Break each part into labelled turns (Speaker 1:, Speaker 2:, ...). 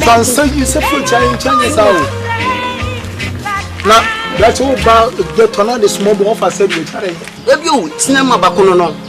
Speaker 1: sansa
Speaker 2: yi sɛ fo kya nkyɛn nyɛ saa o na bɛte wo ba dɛ tɔ na de sumɔ bɔ ɔfa sɛ bi o kyare ebi o tina
Speaker 3: ma ba kono no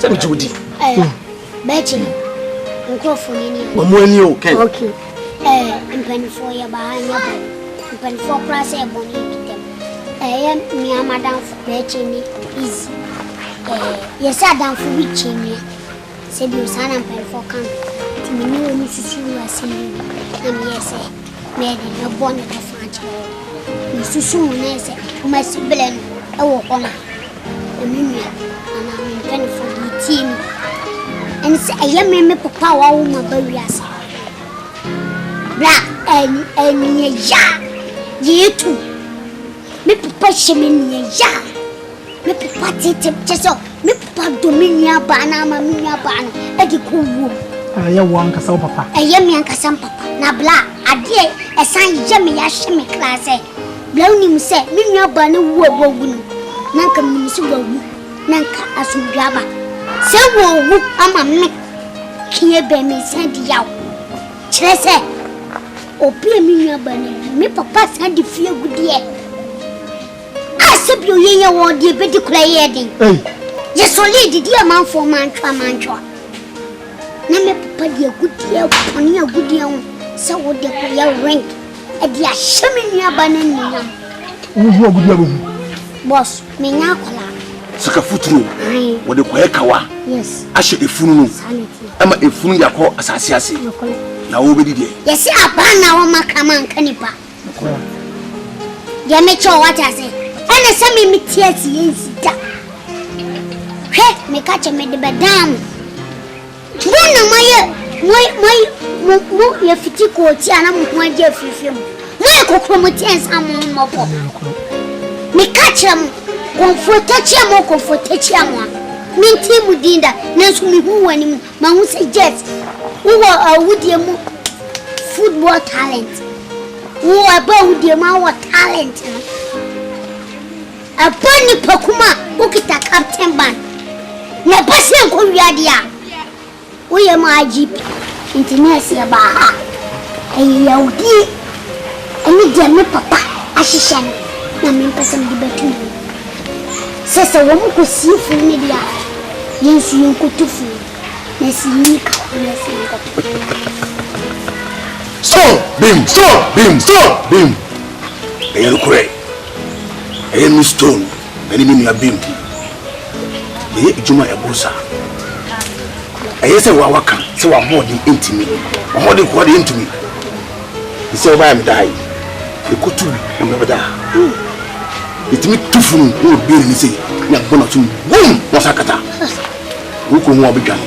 Speaker 3: sɛ megye wo di bɛkyi
Speaker 1: no nkurɔfoɔ no ani wɔn ani o
Speaker 3: kɛn okay
Speaker 1: ɛɛ mpanimfoɔ yɛ ba ha nyɛ bɔne mpanimfoɔ koraa sɛ ɛbɔ ne bi dɛm ɛyɛ mmea madamfo bɛkyi ne easy ɛɛ yɛsɛ adamfo bi kyi mmea sɛ bi saa na mpanimfoɔ ka no nti me ne wɔn susu wɔ asɛm bi mu na meyɛ sɛ mɛde mɛbɔ ne bɛfa akyerɛ wɔn mesusu mu na ɛsɛ wɔn asi belɛ no ɛwɔ hɔ no Sɛ me nua anaa me mpanyinfoɔ bi tie me a, ɛne sɛ ɛyɛ me me papa a wawo ma ba wiase. Bra ɛnyɛ ya yɛ tu. Me papa hyɛ me nua ya. Me papa tete kyɛ sɛ me papa dɔ me nua baa no ama me nua baa no ɛde kɔ wuo. Ɛyɛ wo ankasa
Speaker 2: wo papa. Ɛyɛ me ankasa me papa.
Speaker 1: Na bra adeɛ ɛsan yɛ me ya hyɛ me kra sɛ Na wonim sɛ me nuabaa no wu a wawu no, na anka minim sɛ wawu, na anka asomdwoe aba. Sɛ wɔawu ama me fie bɛn me nsan di yaw. Kyerɛ sɛ, obi a me nuabaa no awu, me papa san de fie gu deɛ a sɛ bi oyɛ yɛ wɔ deɛ bɛdi kora yɛ den. Yɛsɔlee didi amanfoɔ mantwa mantwa. Na me papa de agudeɛ pɔne agudeɛ ho sɛ wo de kora yɛ rent. Ɛde ahyɛ me nua ba no anuonyam. Wo ho agudu abɛhu. Boss, menya akwadaa. Sika futuro.
Speaker 4: Wɔde kɔyɛ kawa. Yes. Ahyɛ
Speaker 1: efunu no.
Speaker 4: Ɛma efunu de akɔ asase ase. Na wɔbɛdi deɛ. Yɛsi abaa na wɔn
Speaker 1: akrama nka nipa. Deɛ mekyɛ wɔ wate ase. Ɛna sɛ me me ti asi yɛn si da. Hwɛ, meka kyɛ me de bɛdan mo. Mo na mo ayɛ mo mo mo mo yɛ fiti kɔɔ ti a na mo ho agye afirifiri mo. Mo yɛ kokorom ti ɛnsa a mo ho mmɔ fam. Me ka kyerɛ mo, kɔmfoɔ takyia mo kɔmfoɔ takyia mo a, me ntee mo din da, nanso me hu wɔ anim, ma hu sɛ Jet, wo wɔ awudie mu football talent, wo wɔ ɛbɔ awudie mu a wo wɔ talent no. Ɛbɔ nnipa kum a wokita captain ban na ɛba sɛ nkɔ wia deɛ a woyɛ ma IGP. Nti nurse yɛbaa ha ɛyɛ yawdie ɛne deɛ me papa ahyehyɛ no na me mpɛ sɛ mede bɛto mu sɛ sɛ wɔn kɔ sie funu no deɛ a yɛn nso yɛn kɔ to funu na sɛ yɛnyi ka ho na sɛ yɛn kɔ to funu no
Speaker 4: So bim so bim so bim ɛyɛ no korɛ Ɛyɛ me Stone ne me nua Bim de, yɛyɛ adwuma a ɛboro saa. Ɛyɛ sɛ woa woaka sɛ w'ahoɔden ntumi. W'ahoɔden koraa deɛ ɛntumi. Te sɛ wobaeɛ a medaa yi, yɛkɔtu bi na mmerɛ bɛda a, yɛtumi tu funu na yɛbue n'ani sei na yɛbɔ n'aso mu wum! Na wasan akata. Wokɔhu a wobɛdwane.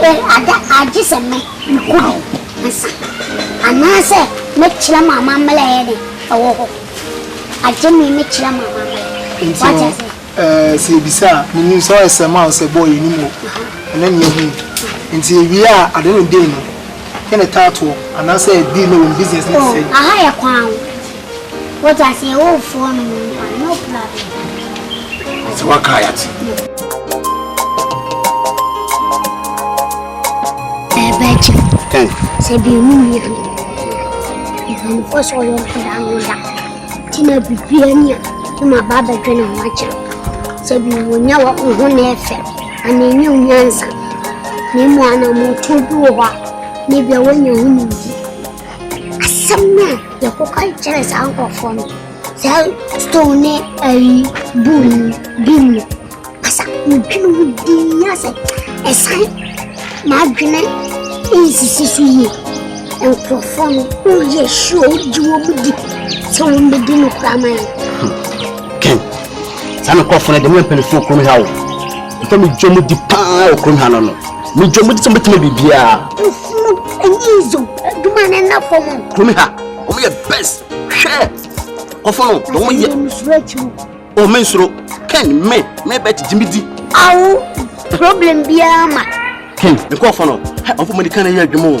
Speaker 1: Ɛ ada a gye sɛ mɛ mekɔ bi ansa anaasɛ mɛ kyerɛ mo amammerɛ a ɛyɛ dɛ ɛwɔ hɔ agye me mɛ kyerɛ mo amammerɛ. Nti Wate no,
Speaker 2: aseɛ? ɛɛ, sɛ yɛbisa a, menim sɛ ɔyɛ sɛm a ɔsɛ bɔɔ yɛnim o, ɛnɛ na yɛahunu. Nti yɛwie a, ade no dɛn mu? Yɛ ne taatoɔ, anaasɛ ɛbi na wɔn business ne te Oh, sɛn? aha yɛ kwan o.
Speaker 1: Wode aseɛ wo foɔ no mu nkwa no kura bi.
Speaker 4: Sɛ waka a yɛate.
Speaker 1: Ɛbɛgye. Tɛn. Sɛ bi mu yɛ no. Mpanimfoɔ sɛ ɔyɛ ɔhwɛda no da. Nti na biribi ani a ne ma ba abɛdwe ne ho akyerɛ. Sɛ bi mu nya wɔ ho na ɛfɛ. Ana ɛnyɛ wo nyansa. Na emu anammɔntuo bi wɔ hɔ a ne bia woanya ho nimdi. Asɛm no a yɛkɔka kyerɛ saa nkurɔfoɔ no, saa stone ne ayi buu no bi mu asa medwene ho dii asɛ ɛsan m'adwene nsisi so yie nkurɔfoɔ no woyɛ sure wogye wɔ mu di sɛ wɔmmɛdi no koraa ma yɛ
Speaker 3: ken saa nkurɔfoɔ no de meyɛ mpanifoɔ kurom ha wo mfa medwa mu di paa wɔ kurom ha no no medwa mu di sɛ mɛtumi biribiaa Mo ɛnyɛ
Speaker 1: izo adwuma na ɛna fam. Kumi ha wɔn
Speaker 3: yɛ best hwɛ kɔfɔ no na wɔn yɛ. Wɔn nsoro akyi mu. Wɔn mi nsoro Ken me me bɛ ti jimi di. Awo problem biara ma.
Speaker 1: Ken
Speaker 3: nkɔfɔ no hɛ ɔfɔ mo
Speaker 1: ni kan
Speaker 3: na yɛ adwuma o.